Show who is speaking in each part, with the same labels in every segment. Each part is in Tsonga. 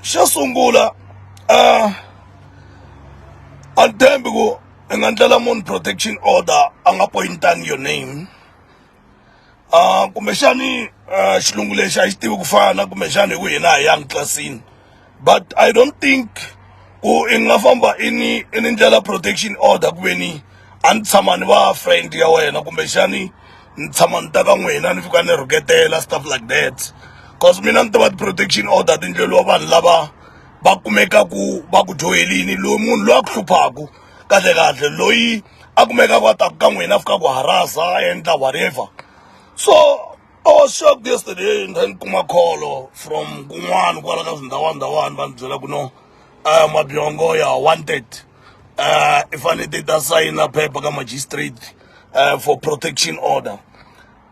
Speaker 1: xo sungula a a ni tshembi ku i nga ndlela munhu protection order a nga pointanga your name um kumbexani um xilungu lexi a xi tivi ku fana kumbexani hi ku hina hi yang tlilasini but i don't think ku i nga famba i ni i ni ndlela protection order ku ve ni a ni tshama ni va friend ya wena kumbexani ni tshama ni ta ka n'wina ni fika ni rhuketela stuff like that cause mina ni tiva ti-protection order tindleliwa vanhu lava va kumekaku va ku dyohelini loyi munhu loyi a ku hluphaku kahle kahle loyi a kumekaku a taku ka n'wina a fika ku harasa a endla whatever so i was shocked yesterday ni kha ni kuma kholo from kun'wana kwala ka swindhawanndhawani va ni byela ku no um mabyongo ya wanted um i fanele ti ta sayina phepha ka magistrate uh, for protection order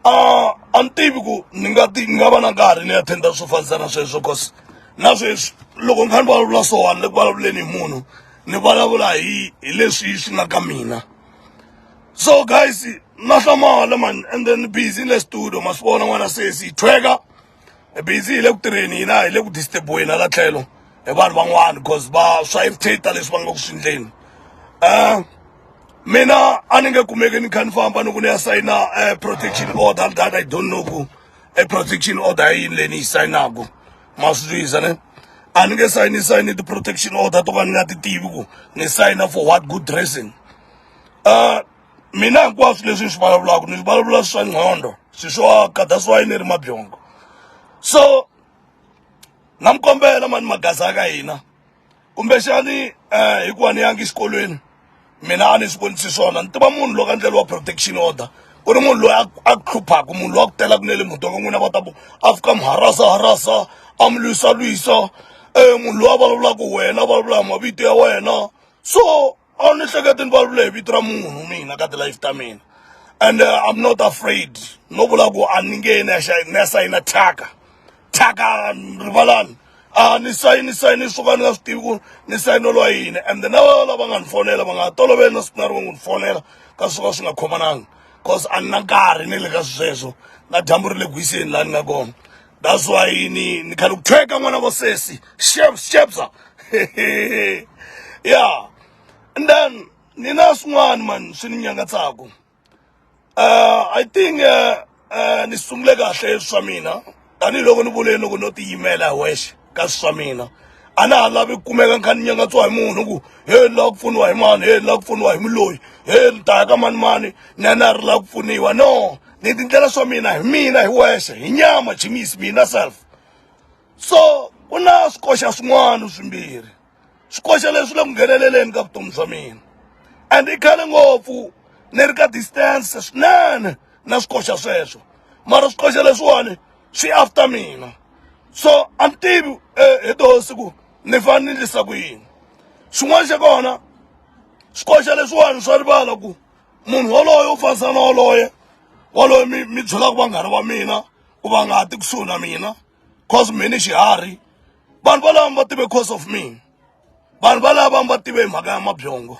Speaker 1: uh, a ni tivi ku ni nga ti ni nga va na nkarhi ni attenda swo fanisa na sweswo cause na sweswi loko ni kha ni vulavula swowani le ku vulavuleni hi munhu ni vulavula hi hi leswi swi nga ka mina so guys na hlamala mani and then busy le studio ma swi vona n'wana sesi hi thweka hi busy hi le ku tirheni hina hi le ku disturbiweni hala tlhelo hi vanhu van'wana because va swa irritate leswi va nga ku swi endleni um mina a ni nge kumeki ni kha ni famba ni ku ni ya sayina um protection order that i don't know ku e protection order ya yini leyi ni yi sayinaku ma swi twisisa ne a ni nge sayini sayini ti-protection order to ka ni nga ti tivi ku ni sayina for what good dressing um mina hinkwaswo leswi ni swi vulavulaka ni vulavula swa nqhondo swi swo aka that's why ni ri mabyongo so na mi kombela mani magaza ka hina kumbexani um hikuva ni yangi exikolweni mina a ni swi vonisi swona ni tiva munhu loko a ndlela wa protection order ku ri munhu loyi a hluphaku munhu loyi a ku telaka na le muti wa ka n'wina va ta ku a fika mi harasa harasa a mi lwisa lwisa um munhu loyi a vulavulaka wena a vulavula hi mavito ya wena so a wu ni hleketi ni vulavule hi vito ra munhu mina ka ti-life ta mina and uh, i'm not afraid no vula ku a ni nge ni ya xa- ni ya sayina thyaka thyaka rivalani a ni sayini sayini swo ka ni nga swi tivi ku ni sayinelo wa yini and then lava lava nga ni fonela va nga ha toloveli na siku na rin'we ku ni fonela ka swo ka swi nga khomananga cause a ni na nkarhi ni le ka sweswo na dyambu ri le gwiseni laha ni nga kona that's why ni ni khale ku thyeka n'wana vo sesi chef chefza yeah and then ni na swin'wana mani swi ni nyangatsaka uh, i think uh, uh, ni sungule kahle swa mina tanihiloko ni vuleni loko no tiyimela hi wexe ka swa mina a na ha lavi kumeka ni kha ni nyangatsiwa hi munhu ku he ni lava ku pfuniwa hi mani he ni lava ku pfuniwa hi muloyi he ni ta ya ka mani mani ni ya na ri lava ku pfuniwa no ni tindlela swa mina hi mina hi wexe hi nyama jimisi mina self so ku na swikoxa swin'wana swimbirhi swikoxa leswi le ku ngheneleleni ka vutomi bya mina and i khale ngopfu ni ri ka distance swinene na swikoxa sweswo mara swikoxa leswiwani swi after mina so a ni tivi hi toho siku ni fane ni endlisa ku yini xin'wana xa kona swikoxa leswiwani swa rivala ku munhu waloye u fanisana na waloye waloye mi mi byelaka vanghana va mina ku va nga ha ti kusuhi na mina. cause me ni xiharhi vanhu valava mi va tive cause of me vanhu valava mi va tive hi mhaka ya mabyongo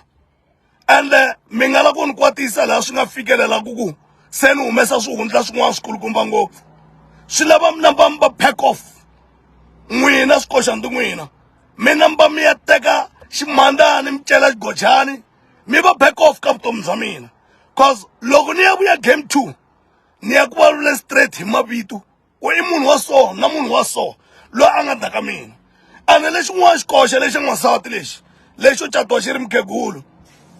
Speaker 1: ende mi nga la ku ni kwatisa laha swi nga fikelelaku ku se ni humesa swihundla swin'wana swikulukumba ngopfu swi lava mi namba mi va pack off n'wina swikoxandi n'wina mi namba mi ya teka ximandani mi cela xigojani mi va back off ka vutomi bya mina cause loko ni ya vuya game two ni ya ku vulavula straight hi mavito ku i munhu wa so na munhu wa so loyi a nga ta ka mina ene lexin'wana xikoxe lexi n'wansati lexi lexo catiwa xi ri mukhegulu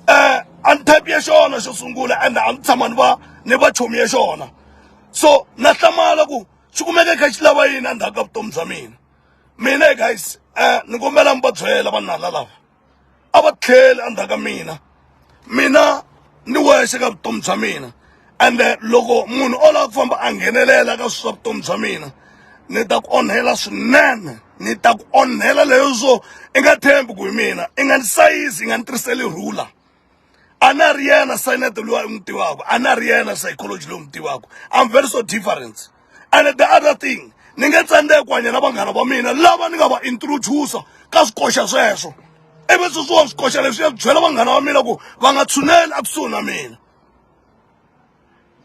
Speaker 1: um a ni type ya xona xo sungula ende a ni tshama ni va ni va chomi ya xona so na hlamala ku xi kumeke kha xi lava yini endzhaku ka vutomi bya mina mina guys um ni kombela mi va byela vanhu lava a va tlheli endzhaku ka mina mina ni wexe ka vutomi bya mina ende loko munhu o lava ku famba a nghenelela ka swa vutomi bya mina ni ta ku onhela swinene ni ta ku onhela leyo swo i nga tshembi ku hi mina i nga ni sayizi i nga ni tirhiseli rhula. a na ri yena scinet loyi a n'wi tivaka a na ri yena psychology loyi n'wi tivaka i'm very so different and the other thing ni nge tsandzeki ku hanya na vanghana va mina lava ni nga va introduce ka swikoxa sweswo ivi sweswiwa swikoxa leswi ya byela vanghana va mina ku va nga tshuneli ekusuhi na mina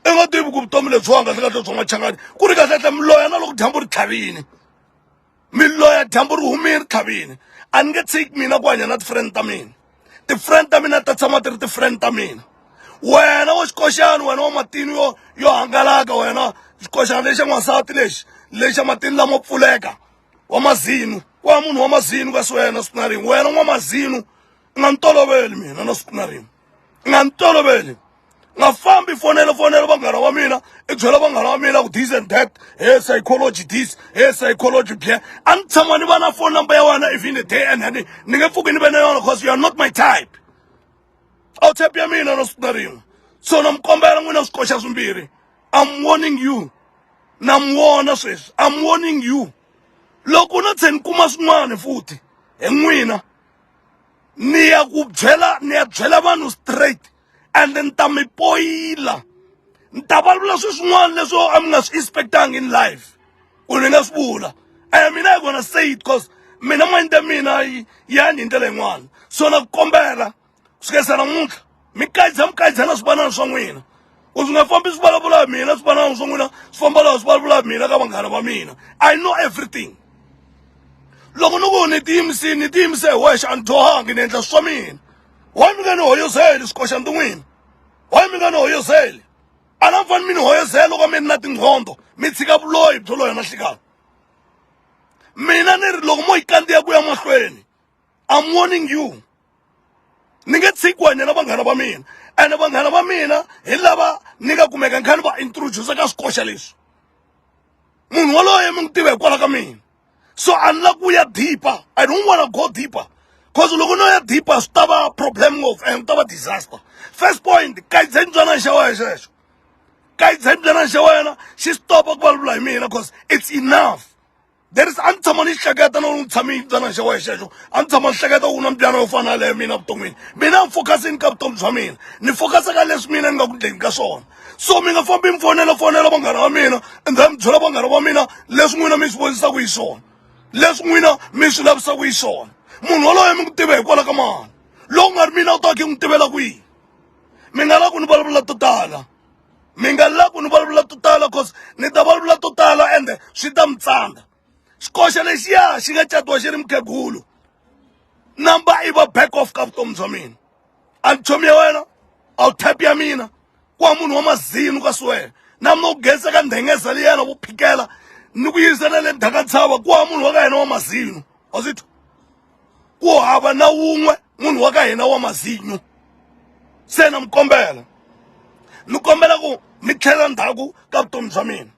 Speaker 1: i nga tivi ku vutomi lebyiwanga kahle kahle bya machangani ku ri kahle kahle miloya na loko dyambu ri tlhavini mi loya dyambu ri humile ri tlhavile a ni nge tshiki mina ku hanya na ti-friend ta mina ti-friend ta mina ta tshama ti ri ti-friend ta mina wena wa xikoxana wena wa matini yo yo hangalaka wena xikoxana lexa n'wansati lexi lexa matini lamo pfuleka wa mazinu wa munhu wa mazinu kasi wena siku na rin'we wena n'wamazinu u nga ni toloveli mina na siku na rin'we nga ni toloveli nga fambi fonela fonela vanghana wa mina i byela vanghana wa mina ku this and that he psychology this he psychology bye a ni tshama ni va na phone number ya wena even the day and ni ni nge pfuki ni ve na yona because you are not my type a wu type ya mina na siku na rin'we so na mi kombela n'wina swikoxa swimbirhi i'm warning you na mi wona sweswi i'm warning you loko na tshe ni kuma swin'wana futhi hi n'wina ni ya ku byela ni ya byela vanhu straight and ni ta mi poyila ni ta valula swi swin'wana leswo a mi nga swi expectanga in life ku ni nga swi vula and mina i gonna say it cause mina mind ya mina yi yani hi ndlela yin'wana so na ku kombela swi kayisa namuntlha mi kayidza mi kayidza na swivanana swa n'wina u swi nga fambi swi vulavula hi mina swi vanana swa n'wina swi famba laha swi vulavula hi mina ka vanghana va mina i know everything loko ni ku ni tiyimisini ni tiyimise hi wexe a ni dyohangi ni endla swa mina why mi nga ni hoyozeli swikoxa ndi n'wina why mi nga ni hoyozeli a na fani mi ni hoyozela loko mi ri na tinqhondo mi tshika vuloyi byo loya na nhlikana mina ni ri loko mo yi kandziya ku ya mahlweni I'm warning you ni nge tshiki ku hanya na vanghana va mina ene vanghana va mina hi lava ni nga kumeka ni kha ni va introduce ka swikoxa leswi munhu waloye mi n'wi tiva hikwalaho ka mina so a ni lava ku ya deeper i don't wanna go deeper cause loko no ya deeper swi ta va problem ngopfu and swi ta va disaster first point kayidzeni byanana xa wena xexo kayidzeni byanana xa wena xi stopa ku vulavula hi mina cause it's enough there is a ni tshama ni hleketa no ni tshame yibyana xa wena xexo a ni tshama ni hleketa u na mbyana yo fana leyo mina vuton'wini mina ni focusini ka vutomi bya mina ni focus ka leswi mina ni nga ku ndleni ka swona so mi nga fambi mi fonela fonela vanghana va mina and then mi byela vanghana va mina leswi n'wina mi swi vonisaka hi swona leswi n'wina mi swi lavisaka hi swona munhu waloye mi ku tiva hikwalaho ka mani loku nga ri mina u ta ki n'wi tivela kwihi mi nga la ku ni vulavula to tala mi nga lavi ku ni vulavula to tala cause ni ta vulavula to tala ende swi ta mi tsandza xikoxa lexiya xi nga catiwa xi ri mukhegulu number i va back off ka vutomi bya mina a ni chomi ya wena a wu tap ya mina ku wa munhu wa mazinu ka siwena na mina ku geza ka ndhengeza liyana vo phikela ni ku yisa na le ndhaka ntshava ku wa munhu wa ka hina wa mazinu was it ku hava na wun'we munhu wa ka hina wa mazinyo se na mi kombela ni kombela ku mi tlhelela ndzhaku ka vutomi bya mina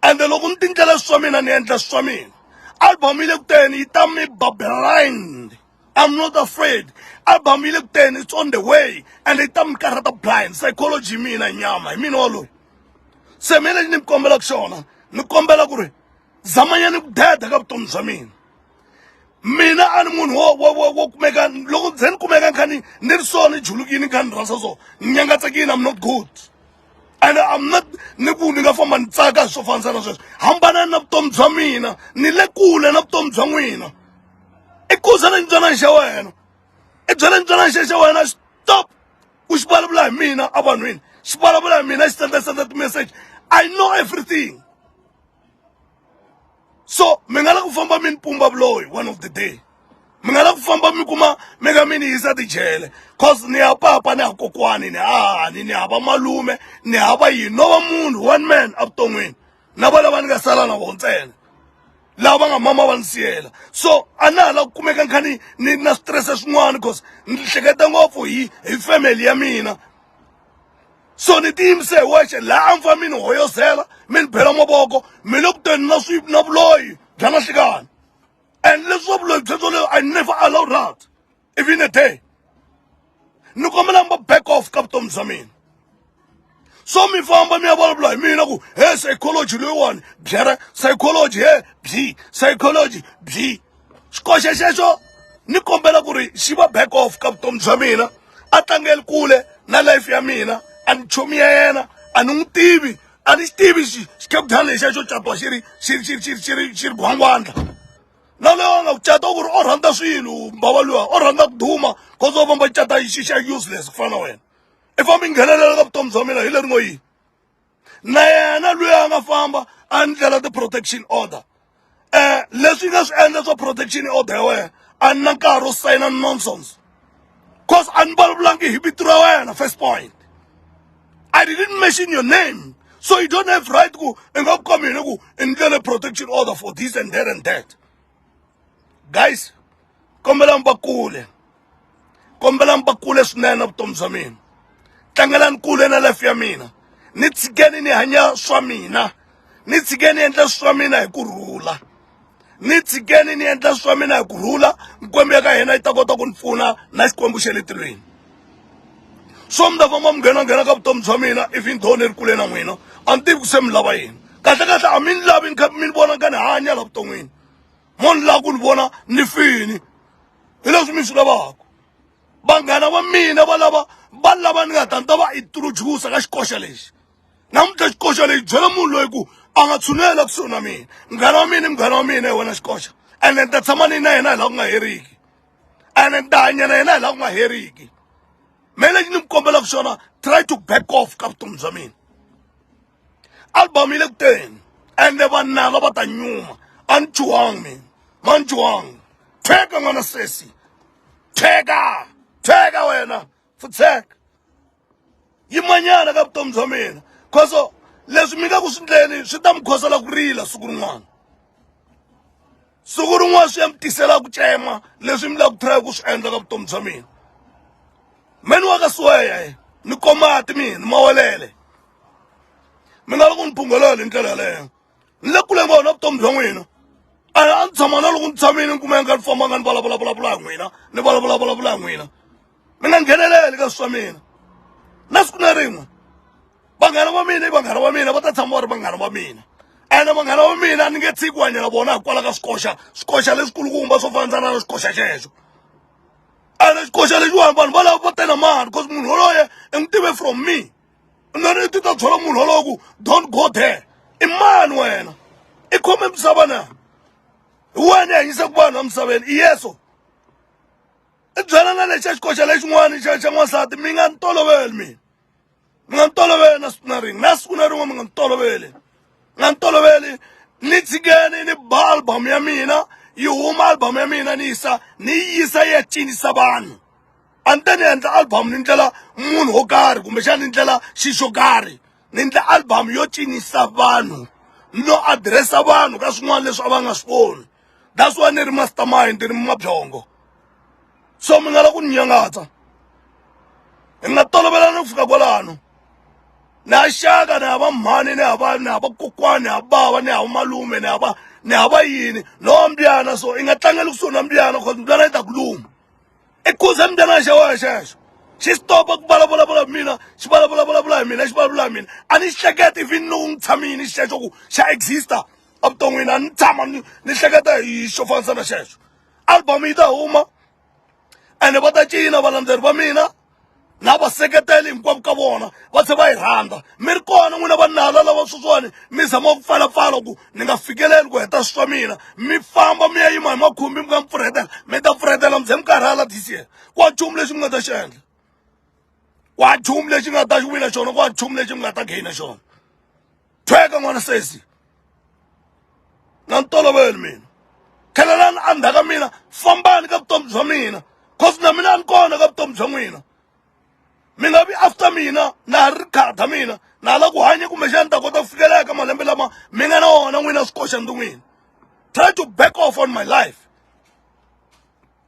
Speaker 1: ende loko ni tindlela swa mina ni endla swa mina album yi le kuteni yi ta mi bablind I'm not afraid album yi le kuteni it's on the way and yi ta mi karhata blind psychology hi mina nyama hi mina waloyi se mina lexi ni mi kombelaka xona ni kombela ku ri zamanyani ku deda ka vutomi bya mina mina a ni munhu wo wo wo wo kumeka loko ze ni kumeka ni kha ni ni ri so ni julukile ni kha ni rhandza so ni nyangatsekile i'm not good and i'm not ni ku ni nga famba ni tsaka hi swo fanisa na sweswo hambanani na vutomi bya mina ni le kule na vutomi bya n'wina i kuza na ntswanani xa wena i byela ntswanani xa xa wena stop ku xi vulavula hi mina evanhwini xi vulavula hi mina xi senda senda ti-message i know everything so mi nga la ku famba mi ni pumba vuloyi one of the day mi nga la ku famba mi kuma mi ka mi ni yisa tijele cause ni ya papa ni ya kokwani ni hahani ni hava malume ni hava yini no va munhu one man evuton'wini na va lava ni nga sala na vo ntsena lava nga mama va ni siyela so a na ha la ku kumeka ni kha ni ni na switirese swin'wana cause ni hleketa ngopfu hi hi family ya mina so ni tiyimise hi wexe laha a mi fa mi ni hoyozela mi ni bela mavoko mi le ku teni na swi na vuloyi bya na hlikani and leswi wa vuloyi byebyo leyo i never allow that even a day ni kombela mi va back off ka vutomi bya mina so mi famba mi ya vulavula hi mina ku he psychology loyiwani byere psychology he byi psychology byi xikoxe xexo ni kombela ku ri xi va back off ka vutomi bya mina a tlangeli kule na life ya mina a ni chomi ya yena a ni n'wi tivi a ni xi tivi xikeputani lexi a xo catiwa xi ri xi ri xi ri xi ri xi ri xi ri gwangwandla na loyi a nga ku cata ku ri o rhandza swilo mbava luya o rhandza ku duma cause o famba cata xi xa useless ku fana na wena i famba i nghenelela ka vutomi bya mina hi leri ngo yini na yena loyi a nga famba a ndlela ti-protection order um leswi nga swi endla swa protection order ya wena a ni na nkarhi wo sayina nonsense cause a ni vulavulangi hi vito ra wena first point i didn't mention your name so you don't have right ku i nga ku ka mina ku i ndlele protection order for this and that and that guys kombela mi va kule kombela mi va kule swinene na vutomi bya mina tlangelani kule na life ya mina ni tshikeni ni hanya swa mina ni tshikeni endla swa mina hi ku rhula ni tshikeni ni endla swa mina hi ku rhula mikwembu ya ka hina yi ta kota ku ni pfuna na xikwembu xa le tilweni so mi ta famba mi nghenanghena ka vutomi bya mina if ni dhowo ni ri kule na n'wina a ni tivi ku se mi lava yini kahle kahle a mi ni lavi ni kha mi ni vona ni kha ni hanya la vuton'wini mo ni lava ku ni vona ni fini hi leswi mi swi lavaka vanghana va mina va lava va lava ni nga ta ni ta va introduce ka xikoxa lexi namuntlha xikoxa lexi byela munhu loyi ku a nga tshunela kusuhi na mina munghana wa mina i munghana wa mina hi wena xikoxa ene ni ta tshama ni na yena hi laha ku nga heriki ene ni ta hanya na yena hi laha ku nga heriki me lexi ni mi kombelaka xona try to back off ka vutomi bya mina album yi le ku teni ende vanala va ta nyuma a ni chuwangi mina ma ni chuwangi theka n'wana sesi theka theka wena futseka yimanyana ka vutomi bya mina khoso leswi mi nga ku swi ndleni swi ta mi khosela ku rila siku rin'wana siku rin'wana swi ya mi tisela ku tsema leswi mi la ku try ku swi endla ka vutomi bya mina meni wa ka siweya ni komati mina mawelele mi nga loko ni phunghelele hi ndlela yaleyo ni le kule ngopfu na vutomi bya n'wina a a ni tshama na loko ni tshamile ni kumeka ni fambanga ni vulavulavulavula hi n'wina ni vulavulavulavula hi n'wina mi nga ngheneleli ka swa mina na siku na rin'we vanghana va mina i vanghana va mina va ta tshama va ri vanghana va mina ene vanghana va mina ni nge tshiki ku hanyela vona hikwalaho ka swikoxa swikoxa leswikulukumba swo fanandzana na swikoxa xexo ene xikoxa lexiwani vanhu valavo va tena mani because munhu yoloye i n'wi tive from me nani ti ta byela munhu wolowo ku don't go there i mani wena i khome misava na hi wena i hanyisaka vanhu emisaveni i yeso i byela na lexi a xikoxa lexin'wana xa xa n'wansati mi nga ni toloveli mina mi nga ni toloveli na siku na rin'we na siku na rin'we mi nga ni toloveli mi nga ni toloveli ni tshikeni ni ba album ya mina yi huma album ya mina ni yisa ni yi yisa yi ya cinisa vanhu a ni ta ni endla album ni ndlela munhu wo karhi kumbexana ni ndlela xi xo karhi ni ndla album yo cinisa vanhu no adiresa vanhu ka swin'wana leswi a va nga swi voni that's why ni ri mastermind ni mabyongo so mi nga la ku ni nyangatsa hi nga tolovelana ku fika kwalano ni ya xaka ni hava mhani ni hava ni hava kokwani ni habava ni hava malume ni hava ni hava yini no mbyana so i nga tlangeli kusuhi na mbyana cause mbyana yi ta ku luma i khuze mntanana xa wena xexo xi stopa ku vulavulavula hi mina xi vulavulavula hi mina xi vulavula hi mina a ni xi hleketa even loko ni tshamini xexo ku xa exista evuton'wini a ni tshama ni ni hleketa hi xo fanisa na xexo album yi ta huma ene va ta cina valandzeri va mina na vaseketeli hinkwavo ka vona va tlhe va yi rhandza mi ri kona n'wina va nala lava sweswiwani mi zama ku pfalapfala ku ni nga fikeleli ku heta swi swa mina mi famba mi ya yima hi makhumbi mi nga mi pfurhetela mi ta pfurhetela mi ze mi karhala this year ku wa nchumu lexi mi nga ta xi endla ku wa nchumu lexi nga ta xi wina xona ku wa nchumu lexi mi nga ta gainer xona tshweka n'wana sesi na ni toloveli mina khelelani endzhaku ka mina fambani ka vutomi bya mina cause na mina a ni kona ka vutomi bya n'wina mi nga vi after mina na ha ri khada mina na ha la ku hanya kumbexani ta kota ku fikelela ka malembe lama mi nga na wona n'wina swikoxa ndzi n'wina try to back off on my life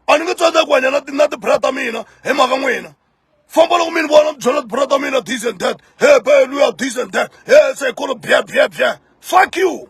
Speaker 1: a ni nge tsandza ku hanya na ti na ti-bra ta mina hi mhaka n'wina famba loko mi ni vona mi byela brother mina this and that hey bae luya this and that hey se kolo bya bya bya fuck you